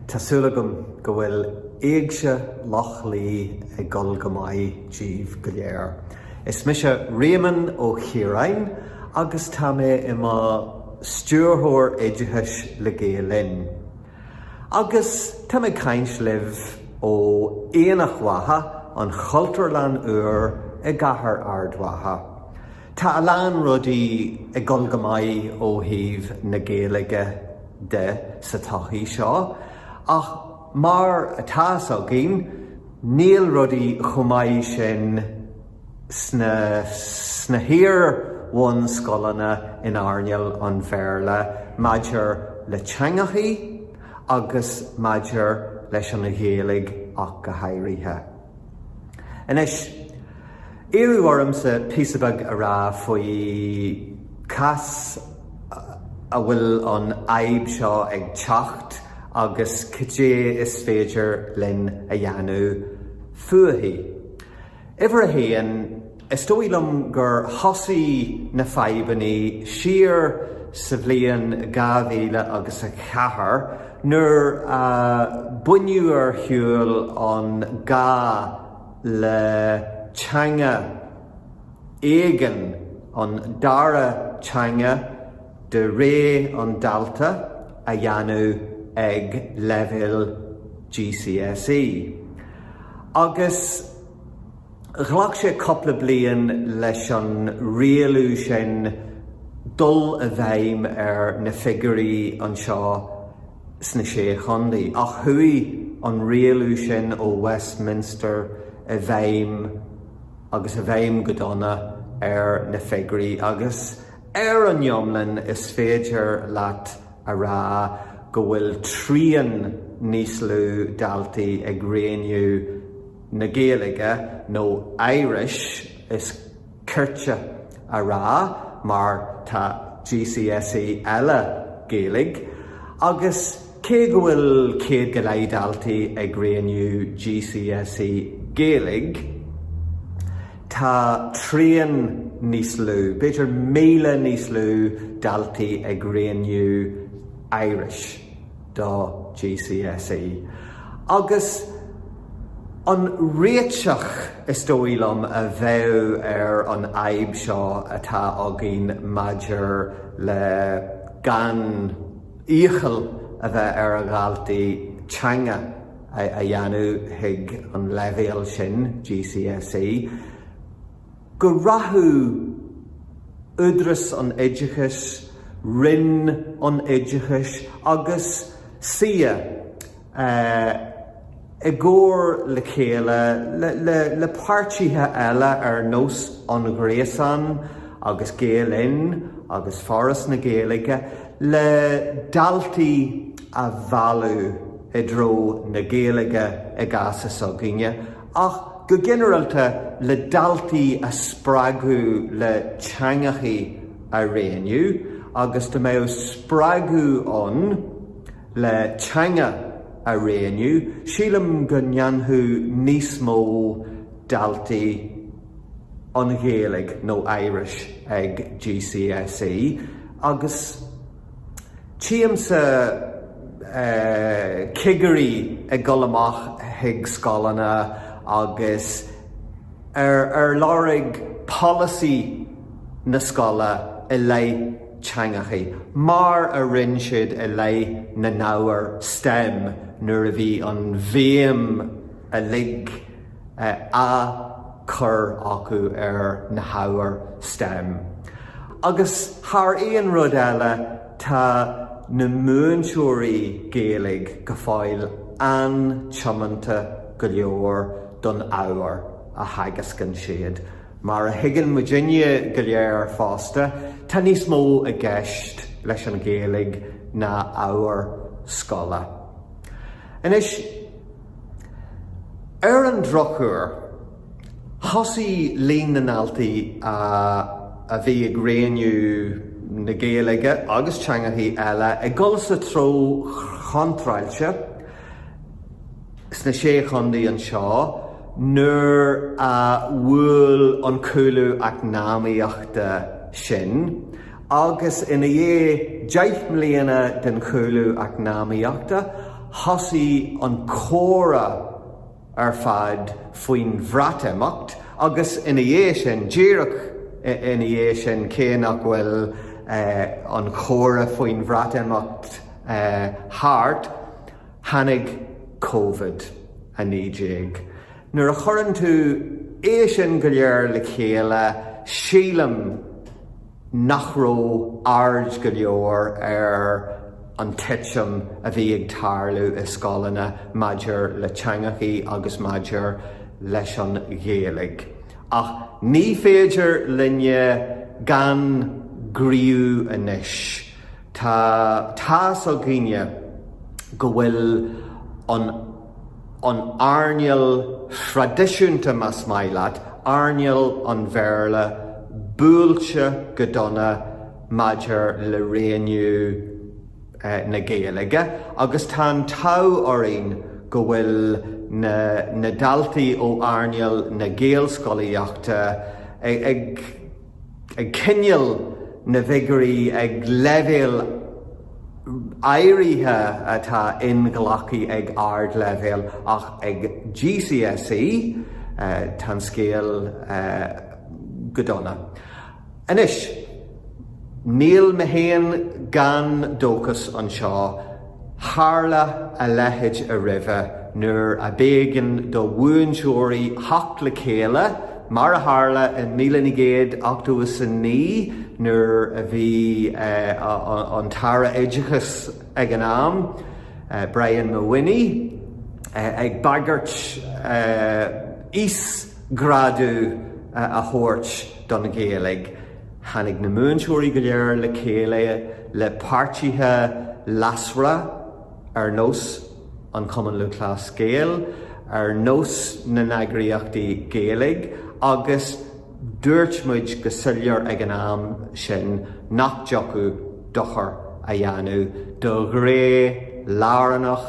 Tá súil agam go bhfuil Éigse Loch Lao ag dul go maith díbh go léir. Is mise Réamonn Ó Ciaráin agus tá mé i mo Stiúrthóir Oideachais le Gael Linn. Agus tá mé ag caint libh ó Aonach Mhacha, an Chultúrlann úr i gCathair Ard Mhacha. Tá a lán rudaí ag dul go maith ó thaobh na Gaeilge de sa tsochaí seo, ach mar atá 's againn, níl rudaí chomh maith sin sna hiar-bhunscoileanna in earnáil an Bhéarla maidir le teangachaí agus maidir leis an Ghaeilge ach go háirithe. Anois, iarradh ormsa píosa beag a rá faoi cá has a bhfuil an fhadhb seo ag teacht agus cad é is féidir linn a dhéanamh fúithi. Uimhir a haon, is dóigh liom gur thosaigh na fadhbannaí siar sa bhliain dhá mhíle agus a ceathair nuair a baineadh ar shiúl an gá le teanga éigin, an dara teanga, de réir an dalta a dhéanamh ag leibhéal GCSE agus ghlac sé cúpla bliain leis an rialú sin dul i bhfeidhm ar na figiúirí anseo sna Sé Chontae ach chuaigh an rialú sin ó Westminster i bhfeidhm agus i bhfeidhm go dona ar na figiúirí agus Ar an iomlán is féidir leat a rá go bhfuil trian níos lú daltaí ag roghnú na Gaeilge nó Irish is cirte a rá mar tá GCSE eile Gaeilge agus Cé go bhfuil 100 go leith daltaí ag roghnú GCSE Gaeilge, tá trian níos lú, b'fhéidir 1,000 níos lú daltaí ag roghnú Irish do GCSE. Agus an réiteach, is dóigh liom, a bheadh ar an fhadhb seo atá againn maidir le gan, iachall a bheith ar a dhaltaí teanga a dhéanamh chuig an leibhéal sin, GCSE, go rachadh Údarás an Oideachais, Roinn an Oideachais agus CCEA, i gcomhar le chéile le páirtithe eile ar nós an Ghréasáin agus Gael Linn agus Foras na Gaeilge le daltaí a mhealladh i dtreo na Gaeilge i gcás s'againne ach go ginearálta le daltaí a spreagadh le teangachaí a roghnú agus dá mbeadh spreagadh ann le teanga a roghnú, sílim go ndéanfadh níos mó daltaí an Ghaeilge nó Irish ag GCSE agus tchímse cigirí ag dul amach chuig scoileanna agus ar lorg polasaí na scoile i leith teangachaí, mar a rinne siad i leith na n-ábhar stem nuair a bhí an bhéim uilig á cur acu ar na hábhair stem. Agus thar aon rud eile, tá na múinteoirí Gaeilge go fóill an-tiomanta go leor don ábhar a theagascann siad. Mar a thuigeann muidinne go léir fosta, tá níos mó i gceist leis an Ghaeilge ná ábhar scoile. Anois, ar an drochuair, thosaigh líon na ndaltaí a bhí ag roghnú na Gaeilge agus teangachaí eile ag dul sa treo chontráilte, sna sé chontae anseo nuair a bhuail an cúlú eacnamaíochta sinn agus ina dhiaidh deich mbliana den chúlú eacnamaíochta thosaigh an comhrá ar fad faoin Bhreatimeacht agus ina dhiaidh sin, díreach ina dhiaidh sin, cé nach bhfuil an comhrá faoin Bhreatimeacht thart, Tháinig Covid-19. Nuair a chuireann tú é sin go léir le chéile, sílim nach raibh aird go leor ar an titim a bhí ag tarlú i scoileanna maidir le teangachaí agus maidir leis an Ghaeilge. Ach ní féidir linne gan gníomhú anois. Tá tá's againne go bhfuil an an earnáil thraidisiúnta, más maith leat, earnáil an Bhéarla, buailte go dona maidir le rangú na Gaeilge agus tá an t-ádh orainn go bhfuil na na daltaí ó earnáil na Gaelscolaíochta ag Ag coinneáil na bhfigiúirí ag leibhéal áirithe atá inghlactha ag ardleibhéal ach ag GCSE tá an scéal go dona. Anois níl mé féin gan dóchas anseo. Tharla a leithéid roimhe nuair a b'éigean do mhúinteoirí theacht le chéile, mar a tharla in míle naoi gcéad ochtó is a naoi nuair a bhí an tAire Oideachais ag an am, Brian Mawhinney, ag bagairt íosghrádú a thabhairt don Ghaeilge. Tháinig na múinteoirí go léir le chéile le páirtithe leasmhara ar nós an Cumann Lúthchleas Gael, ar nós na n-eagraíochtaí Gaeilge agus dúirt muid go soiléir ag an am sin nach dtiocfadh dochar a dhéanamh do ghné lárnach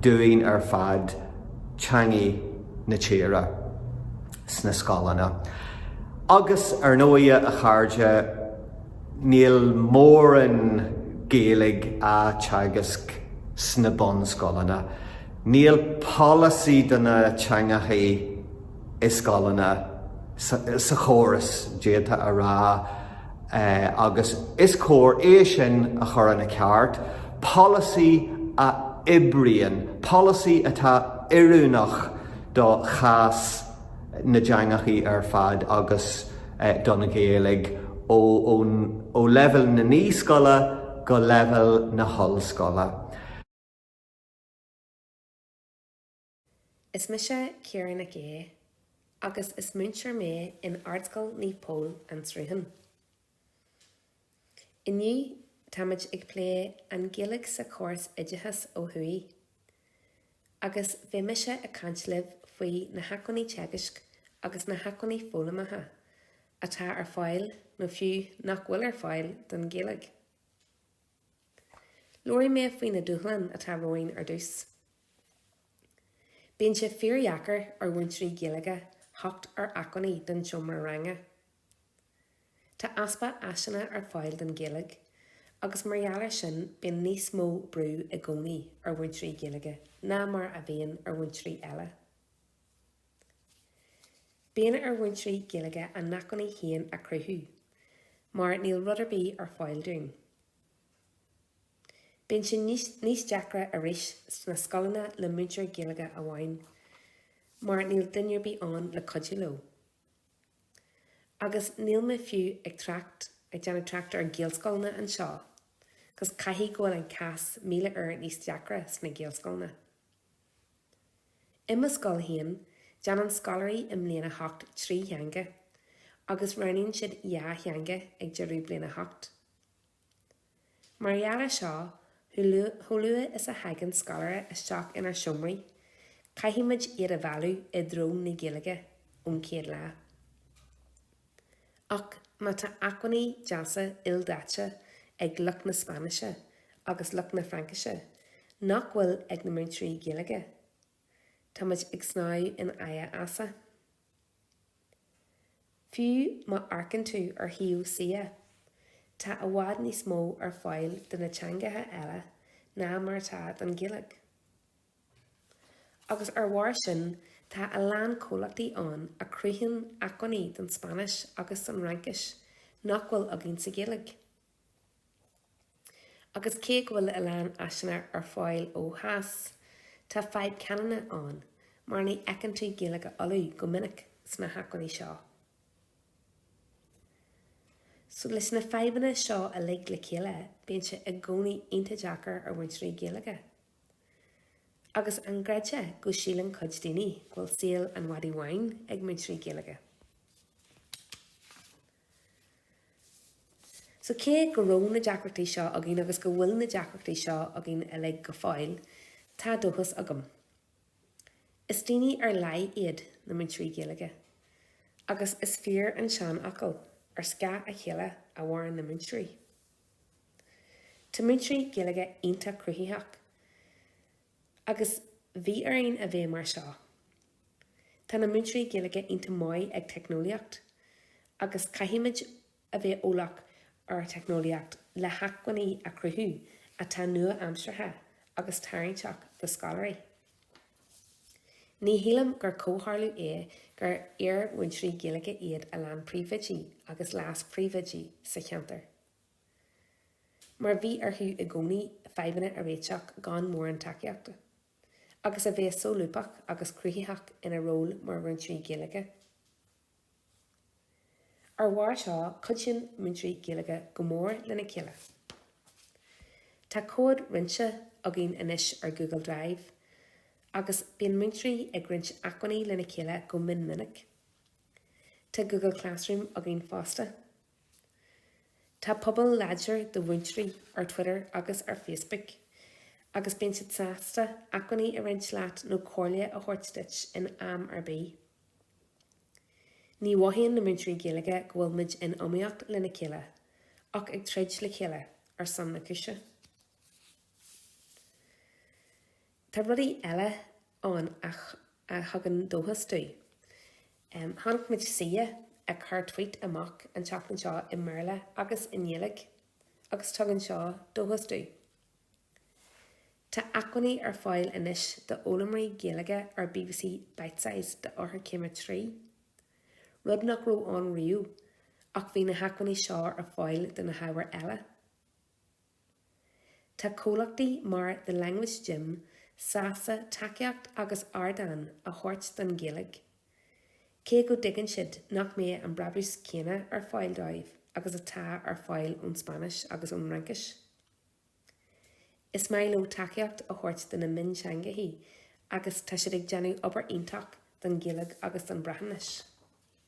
dúinn ar fad, teanga na tíre. sna scoileanna. Agus, ar ndóighe, a chairde, níl mórán Gaeilge á teagasc sna bunscoileanna. Níl polasaí do na teangachaí i scoileanna, sa chóras, d'fhéadfá a rá, agus is cóir é sin a chur ina cheart, polasaí a oibríonn, polasaí atá oiriúnach do chás na dteangachaí ar fad agus don Ghaeilge ó leibhéal na naíscoile go leibhéal na hollscoile. Hi, is mise Ciara Nic Aodh agus is múinteoir mé in Ardscoil Naomh Pól, An Sruthán. Inniu táimid ag plé an Ghaeilge sa chóras oideachais ó thuaidh. Agus beidh mise ag caint libh faoi na hacmhainní teagaisc agus na hacmhainní foghlamtha atá ar fáil nó fiú nach bhfuil ar fáil don Ghaeilge. Labharfaidh mé faoi na dúshláin atá romhainn ar dtús. Bíonn sé fíordheacair ar mhúinteoirí Gaeilge theacht ar acmhainní don tseomra ranga. Tá easpa áiseanna ar fáil don Ghaeilge agus mar gheall ar sin bíonn níos mó brú i gcónaí ar mhúinteoirí Gaeilge ná mar a bhíonn ar mhúinteoirí eile. Bíonn ar mhúinteoirí Gaeilge a n-acmhainní féin a chruthú mar níl rud ar bith ar fáil dúinn. Bíonn sé níos deacra arís sna scoileanna le múinteoir Gaeilge amháin mar níl duine ar bith ann le cuidiú leo. Agus níl mé fiú ag trácht ag déanamh trácht ar Ghaelscoileanna anseo, agus caithfidh go bhfuil an cás míle uair níos deacra sna Gaelscoileanna. I mo scoil féin, déanann scoláirí i mbliain a hocht trí theanga, agus roghnaíonn siad dhá theanga ag deireadh bliain a hocht. Mar gheall ar seo, chomh luath is a thagann scoláire isteach inár seomraí, caithfimid iad a mhealladh i dtreo na Gaeilge ón chéad lá. Ach má tá acmhainní deasa ildaite ag lucht na Spáinnise agus lucht na Fraincise nach bhfuil ag na múinteoirí Gaeilge, táimid ag snámh in aghaidh easa. Fiú má amharcann tú ar shuíomh CCEA, tá i bhfad níos mó ar fáil do na teangacha eile ná mar atá don Ghaeilge. Agus ar bharr sin, tá a lán comhlachtaí ann a chruthaíonn acmhainní don Spáinnis agus don Fhraincis nach bhfuil againn sa Ghaeilge. Agus cé go bhfuil a lán áiseanna ar fáil ó Theas, tá fadhb canúna ann, mar ní fheiceann tú Gaeilge Uladh go minic sna hacmhainní seo. So leis na fadhbanna seo uilig le chéile, bíonn sé i gcónaí iontach deacair ar mhúinteoirí Gaeilge. Agus an gcreidfeá go síleann cuid daoine go bhfuil saol an mhadaidh bháin ag múinteoirí Gaeilge? So cé go raibh na deacrachtaí seo againn agus go bhfuil na deacrachtaí seo againn uilig go fóill, tá dóchas agam. Is daoine ar leith iad na múinteoirí Gaeilge. Agus is fíor an seanfhocal, ar scáth a chéile a mhaireann na múinteoirí. Tá múinteoirí Gaeilge iontach cruthaitheach. Agus bhí orainn a bheith mar seo. Tá na múinteoirí Gaeilge iontach maith ag teicneolaíocht agus caithfimid a bheith eolach ar theicneolaíocht le hacmhainní a chruthú atá nua-aimseartha agus tarraingteach do scoláirí. Ní shílim gur comhtharlú é gur iar-mhúinteoirí Gaeilge iad a lán príomhoidí agus leas-phríomhoidí sa cheantar. mar bhí orthu i gcónaí fadhbanna a réiteach gan mórán tacaíochta, agus a bheith solúbtha agus cruthaitheach ina ról mar mhúinteoirí Gaeilge. Ar bharr seo, cuidíonn múinteoirí Gaeilge go mór lena chéile. Tá comhad roinnte againn anois ar Google Drive agus bíonn múinteoirí ag roinnt acmhainní lena chéile go mion minic. Tá Google Classroom againn fosta. Tá pobal láidir de mhúinteoirí ar Twitter agus ar Facebook agus bíonn siad sásta acmhainní a roinnt leat nó comhairle a thabhairt duit in am ar bith. Ní mhothaíonn na múinteoirí Gaeilge go bhfuil muid in iomaíocht lena chéile, ach ag troid le chéile ar son na cúise. Tá rudaí eile ann a thugann dóchas dúinn. Chonaic muid CCEA ag cur tweet amach an tseachtain seo i mBéarla agus i nGaeilge agus tugann seo dóchas dúinn. Tá acmhainní ar fáil anois do fhoghlaimoirí Gaeilge ar BBC Bitesize d'Eochairchéim a trí, rud nach raibh ann riamh ach bhí na hacmhainní seo ar fáil do na hábhair eile. Tá comhlachtaí mar The Language Gym sásta tacaíocht agus ardán a thabhairt don Ghaeilge, cé go dtuigeann siad nach mbeidh an brabús céanna ar fáil dóibh agus atá ar fáil ón Spáinnis agus ón Fhraincis. Is maith leo tacaíocht a thabhairt do na mionteangachaí agus tá siad ag déanamh obair iontach don Ghaeilge agus don Bhreatnais.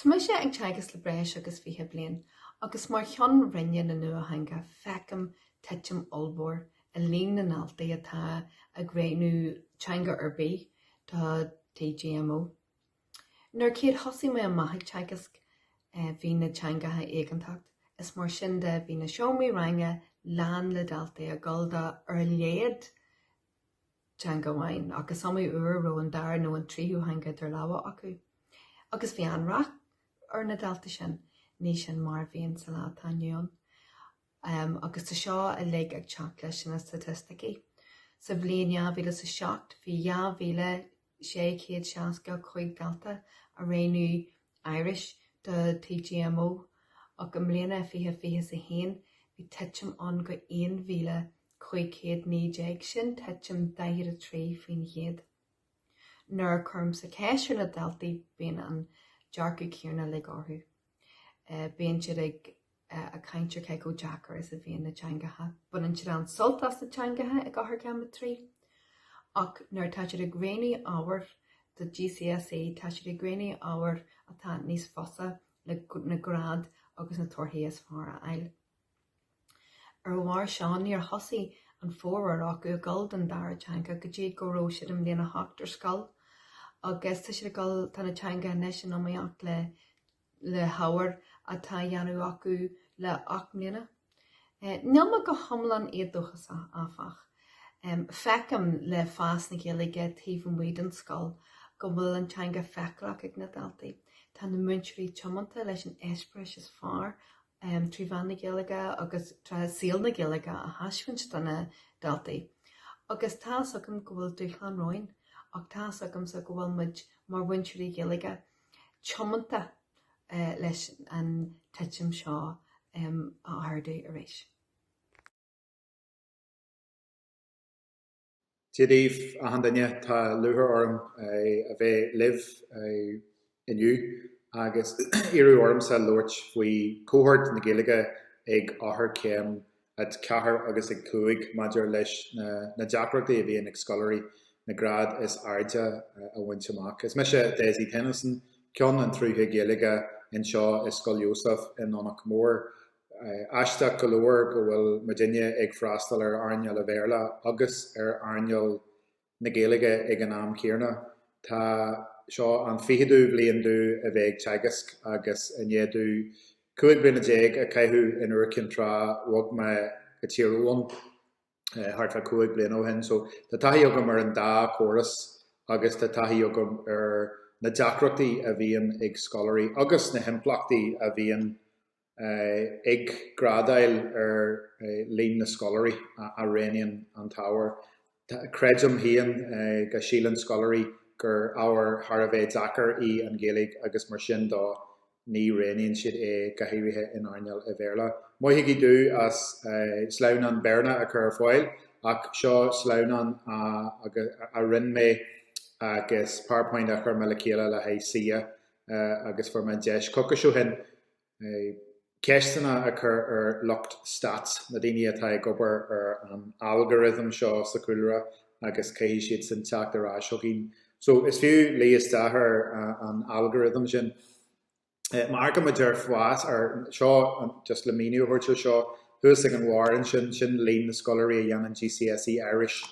Tá mise ag teagasc le breis agus fiche bliain agus mar Cheann Roinne na Nuatheanga feicim titim ollmhór i líon na ndaltaí atá ag roghnú teanga ar bith do TGMO. Nuair a chéad thosaigh mé amach ag teagasc bhí na teangacha éigeantach is mar sin de bhí na seomraí ranga lán le daltaí ag gabháil do ar a laghad teanga amháin ach is iomaí uair a raibh an dara nó an tríú theanga idir lámha acu agus bhí an-rath ar na daltaí sin. Ní sin mar a bhíonn sa lá atá inniu ann agus tá seo uilig ag teacht leis na staitisticí. Sa bhliain 2007 bhí 2,000 665 dalta ag roghnú Irish do TGMO ach i mbliana 2021 bhí titim ann go 1,519 sin titim 43%. Nuair a chuirimse ceist ar na daltaí bíonn an dearcadh céanna uilig orthu. Bíonn siad ag caint ar cé chomh deacair is a bhíonn na teangacha. Baineann siad an-sult as na teangacha ag Eochairchéim 3. Ach nuair atá siad ag roghnú ábhair do GCSE tá siad ag roghnú ábhair atá níos fusa le na grád agus na torthaí is fearr a fháil. Ar a bharr seo, níor thosaigh an formhór acu ag gabháil don dara teanga go dtí go raibh siad i mbliain a hocht ar scoil agus tá siad ag dul, tá na teanga anois in iomaíocht le, le hábhair atá á dhéanamh acu le ocht mbliana. Níl mé go hiomlán éadóchasach, áfach. Feicim le fás na Gaeilge taobh amuigh den scoil go bhfuil an teanga feiceálach ag na daltaí. Tá na múinteoirí tiomanta leis an eispéireas is fearr um trí mheán na Gaeilge agus trí saol na Gaeilge a thaispeáint do na daltaí agus tá's agam go bhfuil dúshlán romhainn ach tá's agamsa go bhfuil muid mar mhúinteoirí Gaeilge tiomanta leis an titim seo um a ardú arís. Dia daoibh achan duine, tá lúcháir orm a bheith libh inniu agus iarradh ormsa labhairt faoi cohórt na Gaeilge ag Eochairchéim a 4 agus a 5 maidir leis na deacrachtaí a bhíonn ag scoláirí na grád is airde a bhaint amach. Is mise Dessie Tennyson, Ceann an tSrutha Gaeilge anseo i Scoil Iósaf i nDomhnach Mór. Aisteach go leor go bhfuil muidinne ag freastal ar earnáil a' Bhéarla agus ar earnáil na Gaeilge ag an am chéarna. Tá seo an ficheadú bliain domh a bheith ag teagasc agus i ndiaidh domh cúig bliana déag a caitheamh in Iúr Cinn Trá bhog mé go Tír Eoghan thart fá cúig bliana ó shin. So tá taithí agam ar an dá córas agus tá taithí agam ar na deacrachtaí a bhíonn ag scoláirí agus na himpleachtaí a bhíonn ag grádáil ar líon na scoláirí a roghnaíonn an t-ábhar. Creidim féin go síleann scoláirí gur ábhar thar a bheith deacair í an Ghaeilge agus mar sin dó ní roghnaíonn siad é, go háirithe in earnáil a' Bhéarla. Maithigí domh as sleamhnán Béarla a chur ar fáil ach seo sleamhnán a rinne mé agus powerpoint a chuir mé le chéile le haghaidh CCEA agus fuair mé an deis coicís ó shin. ceisteanna a chur ar lucht stats, na daoine atá ag obair ar an algorithm seo sa chúlra agus caithfidh siadsan teacht ar ais chugainn. So, is fiú luí isteach ar an algorithm sin. Amharcaimid ar fás ar, seo, just le míniú a thabhairt ar seo, thuas ag an bharr ansin, sin líon na scoláirí a dhéanann GCSE Irish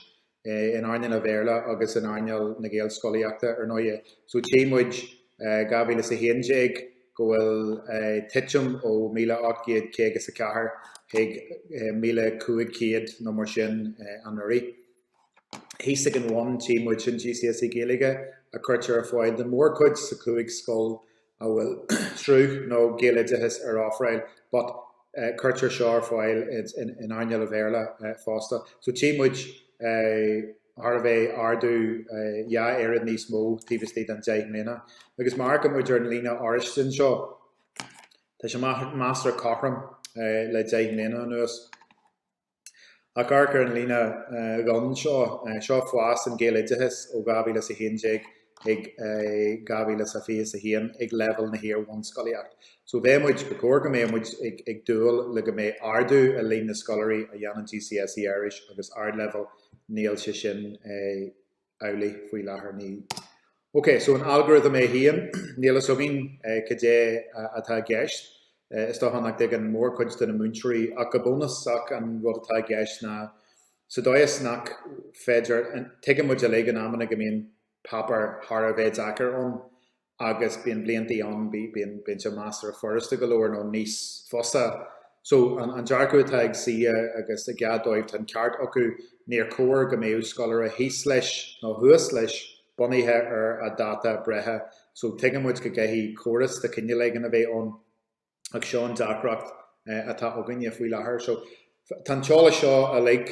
in earnáil an Bhéarla agus in earnáil na Gaelscolaíochta ar ndóighe,. So tchí muid, 2011, go bhfuil titim ó míle ocht gcéad caoga is a ceathair chuig míle cúig chéad nó mar sin anuraidh. Thíos ag an bhun tchí muid sin GCSE Gaeilge a chuirtear ar fáil don mhórchuid sa chúig scoil a bhfuil sruth nó gaeloideachas ar ofráil but cuirtear seo ar fáil in earnáil an Bhéarla fosta so tchí muid go raibh ardú dhá oiread níos mó taobh istigh den deich mbliana agus má amharcann muid ar an líne oráiste anseo tá sé measartha cothrom le deich mbliana anuas. Ach amharc ar an líne ghorm seo, Seo fás an Ghaeloideachais ó 2011 chuig 2021 ag leibhéal na hiar-bhunscolaíochta. So bheadh muid, ba chóir go mbeadh muid ag dúil le go mbeidh ardú i líon na scoláirí a dhéanann GCSE Irish agus Ardleibhéal, níl sé sin amhlaidh faoi láthair. Ní OK, so an algorithm é féin, níl a fhios againn cad é atá i gceist. Is dócha nach dtuigeann mórchuid de na múinteoirí ach go bunúsach an rud atá i gceist ná sa dóigh is nach féidir, tuigeann muid uilig in amanna go mbíonn páipéar thar a bheith deacair ann agus bíonn bliantaí ann, bíonn sé measartha furasta go leor nó níos fusa. So, an dearcadh atá ag CCEA agus i gcead dóibh, tá an ceart acu, níor chóir go mbeadh scoláire thíos leis nó thuas leis bunaithe ar a dháta breithe. So, tuigeann muid go gcaithfidh córas de chineál éigin a bheith ann. ach seo an deacracht atá againne faoi láthair. So, tá an t-eolas seo uilig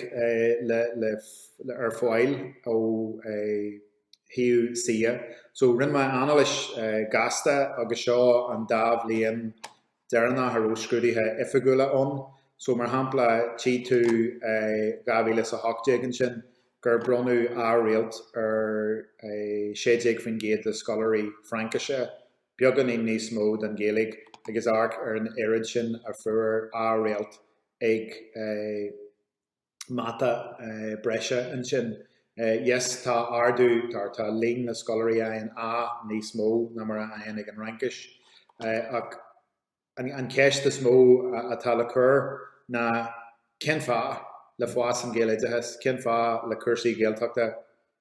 le ar fáil ó shuíomh CCEA. So, rinne mé anailis gasta agus seo an dá bhliain deireanach a raibh scrúduithe oifigiúla ann. So, mar shampla, tchí tú 2018 ansin gur bronnadh A-réalt ar 16% de scoláirí Fraincise Beagáinín níos mó don Ghaeilge agus amharc ar an oiread sin a fuair A réalt ag mata breise ansin. Yes, tá ardú, tá tá líon na scoláirí a fhaigheann A níos mó ná mar a fhaigheann ag an Fhraincis ach. An cheist is mó atá le cur ná cén fáth le fás an Ghaeloideachais, cén fáth le cúrsaí Gaeltachta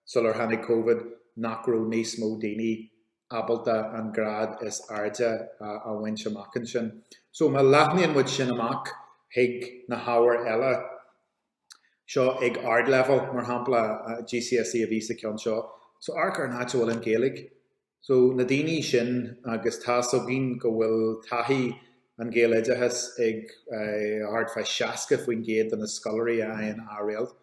sular tháinig Covid nach raibh níos mó daoine ábalta an grád is airde a bhaint amach ansin. So má leathnaíonn muid sin amach chuig na hábhair eile seo ag ardleibhéal, mar shampla GCSE a bhí sa cheann seo, so amharc ar an áit a bhfuil an Ghaeilge. So, na daoine sin, agus tá a fhios againn go bhfuil taithí an Ghaeloideachas ag thart fá 60% de na scoláirí a fhaigheann A réalt.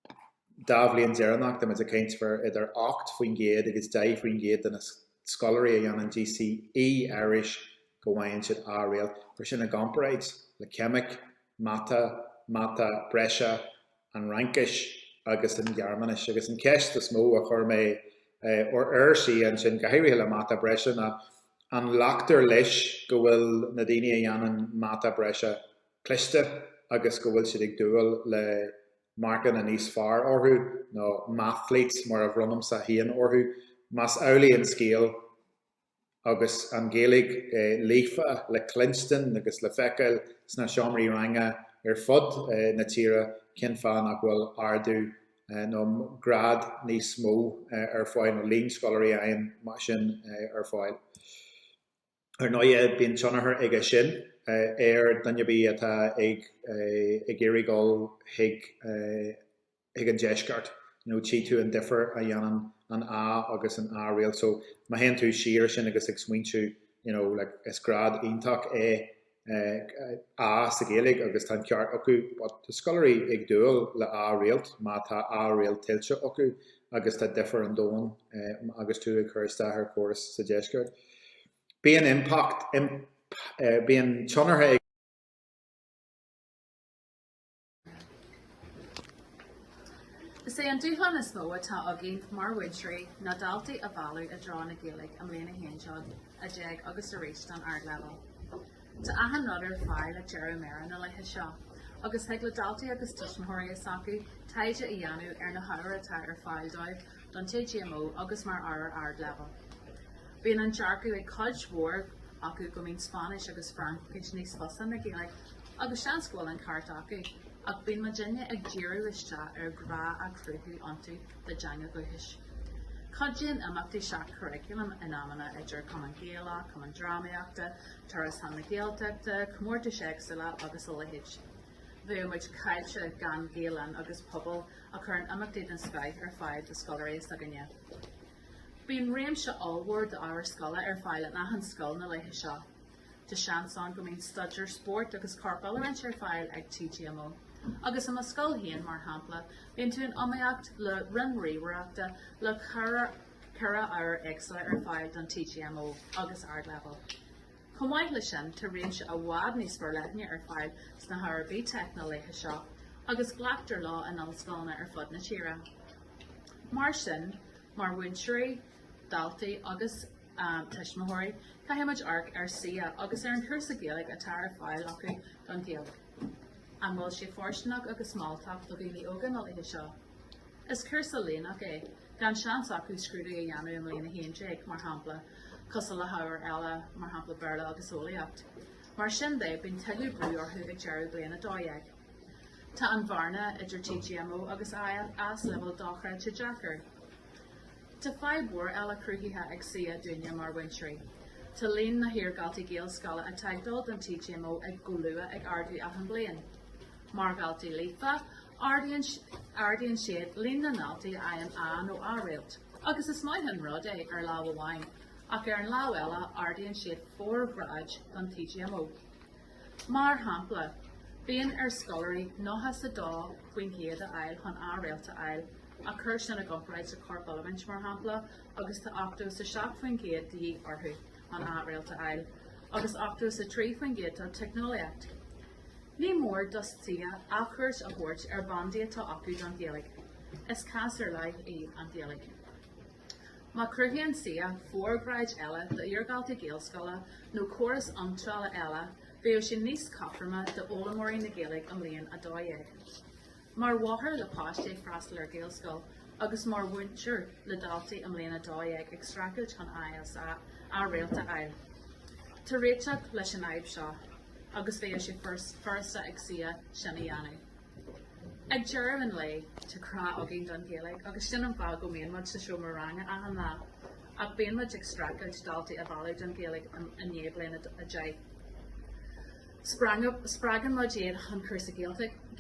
Le dhá bhliain dheireanacha, táimid ag caint faoi idir 8% agus 10% de na scoláirí a dhéanann GCE Irish go bhfaigheann siad A réalt. Cuir sin i gcomparáid le Ceimic, Mata, Mata Breise, an Fhraincis agus an Ghearmáinis. Agus an cheist is mó a chuir mé oraibhse ansin, go háirithe le Mata Breise, ná an nglactar leis go bhfuil na daoine a dhéanann Mata Breise cliste agus go bhfuil siad ag dúil le marcanna níos fearr orthu, nó mathletes mar a bhronnaimse féin orthu, más amhlaidh an scéal? agus an Ghaeilge líofa le cluinstin agus le feiceáil sna seomraí ranga ar fud na tíre cén fáth nach bhfuil ardú nó grád níos mó ar fáil nó líon scoláirí againn mar sin ar fáil. Ar ndóigh bíonn tionchar aige sin ar dhuine ar bith atá ag iarraidh dul chuig an ag an deisceart nó tchí tú an difir a dhéanann an A agus an A réalt so má théann tú siar sin agus ag smaointiú you know like is grád iontach é eh A sa Ghaeilge agus tá an ceart acu but tá scoláirí ag dúil le A réalt má tá A réalt tuillte acu agus tá difear an domhain eh agus tú ag cur isteach ar chóras sa deisceart bíonn impact imp eh bíonn tionchar ag Is é an dúshlán is mó atá againn mar mhúinteoirí ná daltaí a mhealladh i dtreo na Gaeilge i mbliain a haon déag, a dó dhéag agus arís don ardleibhéal. Tá achan rud ar fáil ag deireadh méire na laetha seo agus thig le daltaí agus tuismitheoirí s'acu taighde a dhéanamh ar na hábhair atá ar fáil dóibh don TGMO agus mar ábhair ardleibhéil. Bíonn an dearcadh ag cuid mhór acu go mbíonn Spáinnis agus Fraincis níos fusa ná Gaeilge. agus seans go bhfuil an ceart acu, ach bíonn muidne ag díriú isteach ar ghrá a chruthú iontu dá dteanga dhúchais. Cuidíonn imeachtaí seach-churaclaim in amanna idir Cumann Gaelach, Cumann Drámaíochta, turas chun na Gaeltachta, comórtais éagsúla agus a leithéid. Bheadh muid caillte gan Gael-Linn agus Pobal a chuireann imeachtaí den scoith ar fáil do scoláirí s'againne. Bíonn réimse ollmhór d'ábhair scoile ar fáil in achan scoil na laetha seo. Tá seans ann go mbíonn staidéar spóirt agus corpoiliúint ar fáil ag TGMO. Agus i mo scoil féin, mar shampla, bíonn tú in iomaíocht le roinn ríomhaireachta le ceithre ábhar éagsúla ar fáil don TGMO agus Ardleibhéal. Chomh maith leis sin, tá réimse i bhfad níos forleithne ar fáil sna hábhair BTEC na laetha seo, agus glactar leo in ollscoileanna ar fud na tíre. Mar sin, mar mhúinteoirí, daltaí agus tuismitheoirí, caithfidh muid amharc ar CCEA agus ar an cúrsa Gaeilge atá ar fáil acu don Ghaeilge. An bhfuil sé fóirsteanach agus mealltach do dhaoine óga na laetha seo? Is cúrsa líneach é, gan seans acu scrúdú a dhéanamh i mbliain 11, mar shampla, cosúil le hábhair eile, mar shampla Béarla agus Eolaíocht. Mar sin de, bíonn tuilleadh brú orthu ag deireadh bliain 12. Tá an bhearna idir TGMO agus AS Leibhéal dochreidte deacair. Tá fadhb mhór eile cruthaithe ag CCEA dúinne mar mhúinteoirí. Tá líon na hiardhaltaí Gaelscoile atá ag dul don TGMO ag go luath ag ardú achan bliain. Mar dhaltaí líofa, ardaíonn siad líon na ndaltaí a fhaigheann A nó A réalt, agus is maith an rud é ar lámh amháin, ach ar an lámh eile ardaíonn siad fóir ghráid don TGMO. Mar shampla, bíonn ar scoláirí nócha is a dó faoin gcéad a fháil chun A réalt a fháil, ach cuir sin i gcomparáid le corpoiliúint, mar shampla, agus tá ochtó is a seacht faoin gcéad de dhíth orthu chun A réalt a fháil, agus ochtó is a trí faoin gcéad do teicneolaíocht. Ní mór do CCEA athchuairt a thabhairt ar bhandaí atá acu don Ghaeilge. Is cás ar leith í an Ghaeilge. Má chruthaíonn CCEA fóir ghráid eile d'iardhaltaí Gaelscoile nó córas iontrála eile bheadh sé níos cothroime d'fhoghlaimeoirí na Gaeilge i mbliain 12. Mar mháthair le páiste ag freastal ar Ghaelscoil agus mar mhúinteoir le daltaí i mbliain 12 ag streachailt chun A is A réalt a fháil tá réiteach leis an fhadhb seo agus bheadh sé furasta ag CCEA sin a dhéanamh. Ag deireadh an lae, tá grá againn don Ghaeilge agus sin an fáth go mbíonn muid sa seomra ranga achan lá. Ach bíonn muid ag streachailt daltaí a mhealladh don Ghaeilge i ndiaidh Bliain 10. Spreagann muid iad chun cúrsa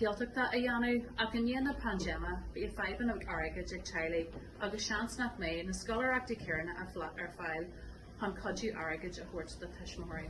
Gaeltachta a dhéanamh ach i ndiaidh na paindéime, bhí fadhbanna airgid ag teaghlaigh agus seans nach mbeidh na scoláireachtaí céanna ar fáil chun cuidiú airgid a thabhairt do tuismitheoirí.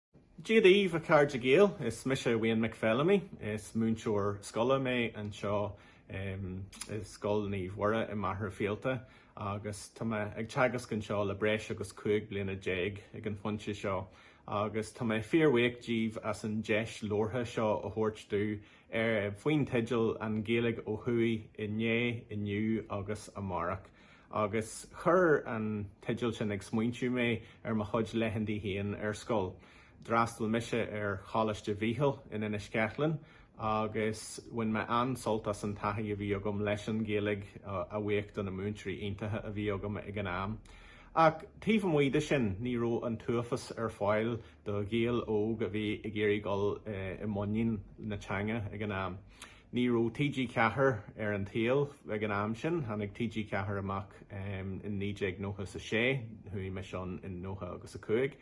Dia daoibh a chairde Gael, is mise Wayne Mac Feilimí, is múinteoir scoile mé anseo i Scoil Naomh Mhuire i Machaire Fíolta agus tá mé ag teagasc anseo le breis agus cúig bliana déag ag an phointe seo agus tá mé fíorbhuíoch díbh as an deis labhartha seo a thabhairt domh faoin teideal An Ghaeilge ó Thuaidh inné, inniu agus amárach. Agus chuir an teideal sin ag smaointiú mé ar mo chuid laethantaí féin ar scoil. D'fhreastail mise ar Choláiste Mhichíl in Inis Ceithleann agus bhain mé an-sult as an taithí a bhí agam leis an Ghaeilge a bhuíoch do na múinteoirí iontacha a bhí agam ag an am. Ach taobh amuigh de sin ní raibh an t-uafás ar fáil do Ghael óg a bhí ag iarraidh dul i muinín na teanga ag an am. Ní raibh TG4 ar an tsaol ag an am sin, tháinig TG4 amach in naoi déag nócha is a sé, chuaigh mise ann in nócha agus a cúig.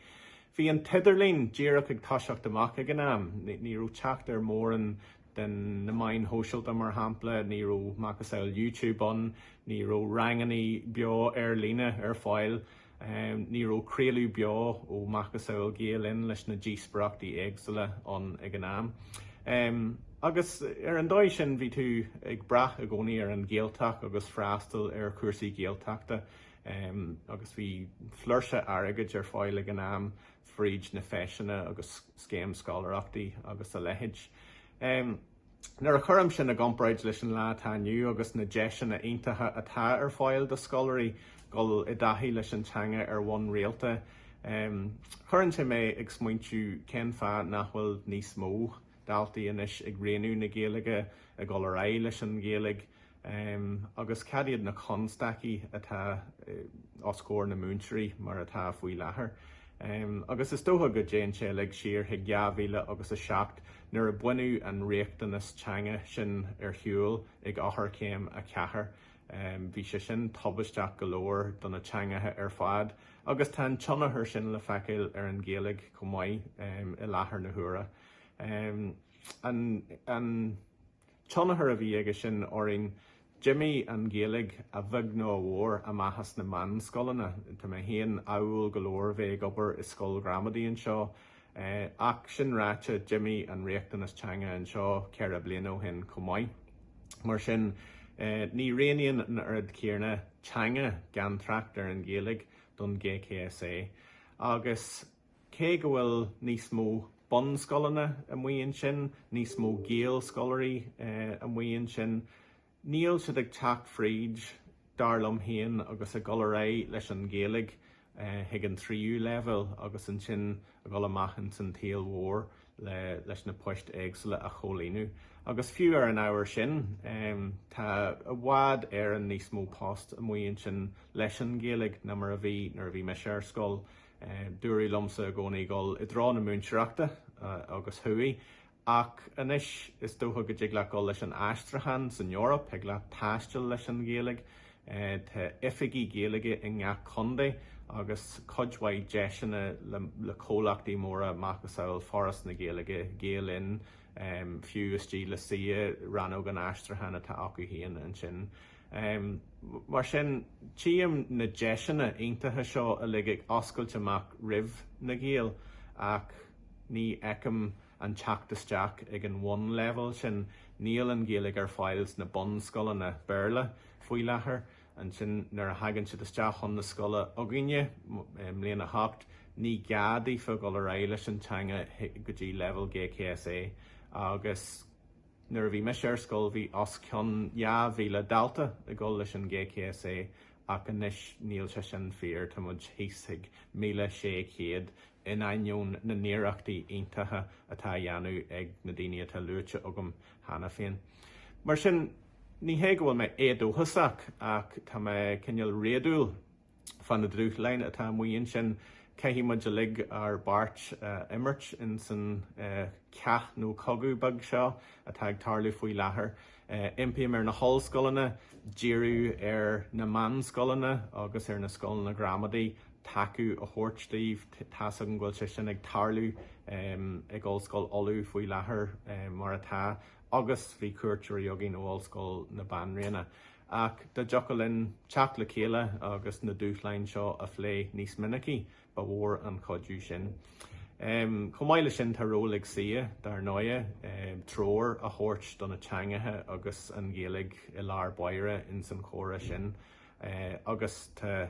Bhí an t-idirlíon díreach ag toiseacht amach ag an am, ní raibh teacht ar mórán de na meáin shóisialta mar shampla, ní raibh macasamhail YouTube ann, ní raibh rangannaí beo ar líne ar fáil. Ní raibh craoladh beo ó macasamhail Gael Linn leis na díospoireachtaí éagsula ann ag an am. Agus ar an dóigh sin bhí tú ag brath i gcónaí ar an Ghaeltacht agus freastal ar chúrsaí Gaeltachta. Agus bhí flúirse airgid ar fáil ag an am fríd na feiseanna agus scéim scoláireachtaí agus a leithéid. Nuair a chuirim sin i gcomparáid leis an lá atá inniu agus na deiseanna iontacha atá ar fáil do scoláirí dul i dtaithí leis an teanga ar bhonn rialta, cuireann sé mé ag smaointiú cén fáth nach bhfuil níos mó daltaí anois ag roghnú na Gaeilge, ag dul ar aghaidh leis an Ghaeilge. Am, Agus cad iad na constaicí atá os comhair na múinteoirí mar atá faoi láthair? Am, Agus is dócha go dtéann sé uilig siar chuig 2000 agus a seacht nuair a baineadh an riachtanas teanga sin ar shiúl ag Eochairchéim a Ceathair. Am, Bhí sé sin tubaisteach go leor do na teangacha ar fad agus tá an tionchar sin le feiceáil ar an Ghaeilge chomh maith i láthair na huaire. Am, An. Tionchar a bhí aige sin orainn. D'imigh an Ghaeilge, a bheag nó a mhór, amach as na meánscoileanna. Tá mé féin ádhúil go leor bheith ag obair i scoil ghramadaí anseo. Ach sin ráite, d'imigh an riachtanas teanga anseo ceithre bliana ó shin chomh maith. Mar sin, ní roghnaíonn an oiread céanna teanga, gan trácht ar an Ghaeilge, don GCSE. Agus. Cé go bhfuil níos mó bunscoileanna amuigh ansin, níos mó Gaelscoláirí amuigh ansin, níl siad ag teacht fríd, dar liom féin, agus ag dul ar aghaidh leis an Ghaeilge chuig an tríú leibhéal agus ansin ag dul amach ins an tsaol mhór leis na poist éagsúla a chomhlíonadh. Agus fiú ar an ábhar sin, tá i bhfad Éireann níos mó post amuigh ansin leis an Ghaeilge ná mar a bhí nuair a bhí mise ar scoil. Dúradh liomsa i gcónaí dul i dtreo na múinteoireachta agus chuaigh. Ach anois is dócha go dtig leat dul leis an aistriúchán san Eoraip, thig leat taisteal leis an Ghaeilge, tá oifigigh Gaeilge i ngach contae agus cuid mhaith deiseanna le comhlachtaí móra macasamhail Foras na Gaeilge, Gael Linn, fiú istigh le CCEA, rannóg an aistriúcháin atá acu féin ansin. Mar sin, tchím na deiseanna iontacha seo uilig ag oscailt amach roimh na Gaeil ach ní fheicim an teacht isteach ag an bhunleibhéal, sin níl an Ghaeilge ar fáil sna bunscoileanna Béarla faoi láthair, ansin nuair a thagann siad isteach chun na scoile againne i mbliain a hocht, ní gá daofa dul ar aghaidh leis an teanga go dtí leibhéal GCSE agus. Nuair a bhí mise ar scoil bhí os cionn 2,000 dalta ag gabháil leis an GCSE ach anois níl sé sin fíor, tá muid thíos ag 1,600 in ainneoin na n-iarrachtaí iontacha atá á dhéanamh ag na daoine atá luaite agam cheana féin. Mar sin, ní hé go bhfuil mé éadóchasach ach tá mé cineál réadúil. Fá na dúshláin atá amuigh ansin. Caithfidh muid uilig ár bpáirt a imirt ins an chath nó cogadh beag seo atá ag tarlú faoi láthair. Impím ar na hollscoileanna díriú ar na meánscoileanna agus ar na scoileanna gramadaí, tacú a thabhairt daofa. Tá's agam go bhfuil sé sin ag tarlú ag Ollscoil Uladh faoi láthair mar atá agus bhí cuairteoirí againn ó Ollscoil na Banríona. Ach dá dtiocfadh linn teacht le chéile agus na dúshláin seo a phlé níos minicí, ba mhór an cuidiú sin. Chomh maith leis sin, tá ról ag CCEA, dar ndóighe, treoir a thabhairt do na teangacha agus an Ghaeilge i lár báire ins an chomhrá sin agus tá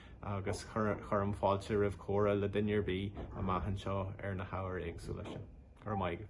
agus cuirim fáilte roimh chomhrá le duine ar bith amach anseo ar na hábhair éagsúla sin. Go raibh maith agat.